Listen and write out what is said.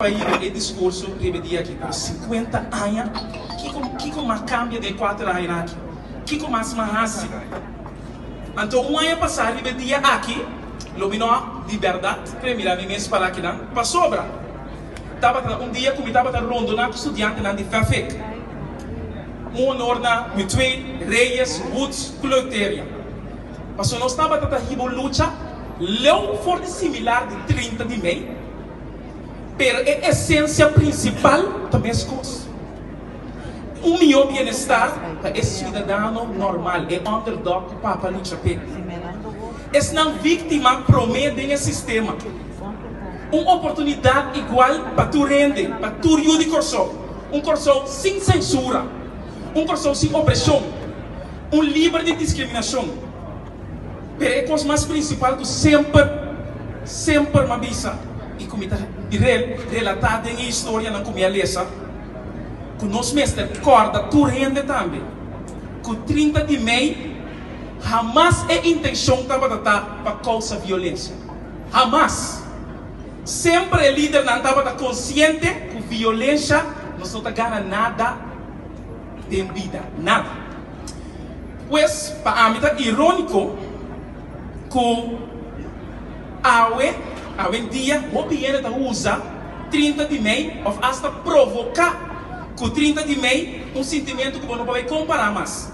Pa hiri e discurso riba e dia aki con cincuenta aña, kico kico m'a cambia den e cuater aña aki? Kico mas m'a haci? Anto un aña pasa riba e dia aki, lo mi no a di berdad cre mira mi mes parakinan, pasobra tabata un dia cu mi tabata rondona cu studiantenan di Fafec. Un honor na Mutué, Reyes, Woods cu Leuteria. Paso nos tabata ta hiba un lucha leu for di similar di trinta di mei. pero e esensia prinsipal ta meskos. Un mihó bienestar pa e siudadano normal, e underdog ku Papa lucha p'e. Esnan víktima promé den e sistema. Un oportunidat igual pa tur hende, pa tur yu di Kòrsou. Un Kòrsou sin sensura. Un Kòrsou sin opreshon. Un liber di diskriminashon. Pero e kos mas prinsipal ku semper, semper mi a bisa i ku mi ta relatá den e historianan ku mi a lesa, ku nos mester kòrda tur hende tambe ku trinta di mei hamas e intenshon tabata ta pa kousa violensia. Hamas! Semper e lidernan tabata konsiente ku violensha no so ta gana nada. den bida nan. Pues, pa ami ta iróniko ku awe awendia hopi hende ta usa trinta di mei òf asta provoká ku trinta di mei un sintimentu ku bo no por bai kompará mas.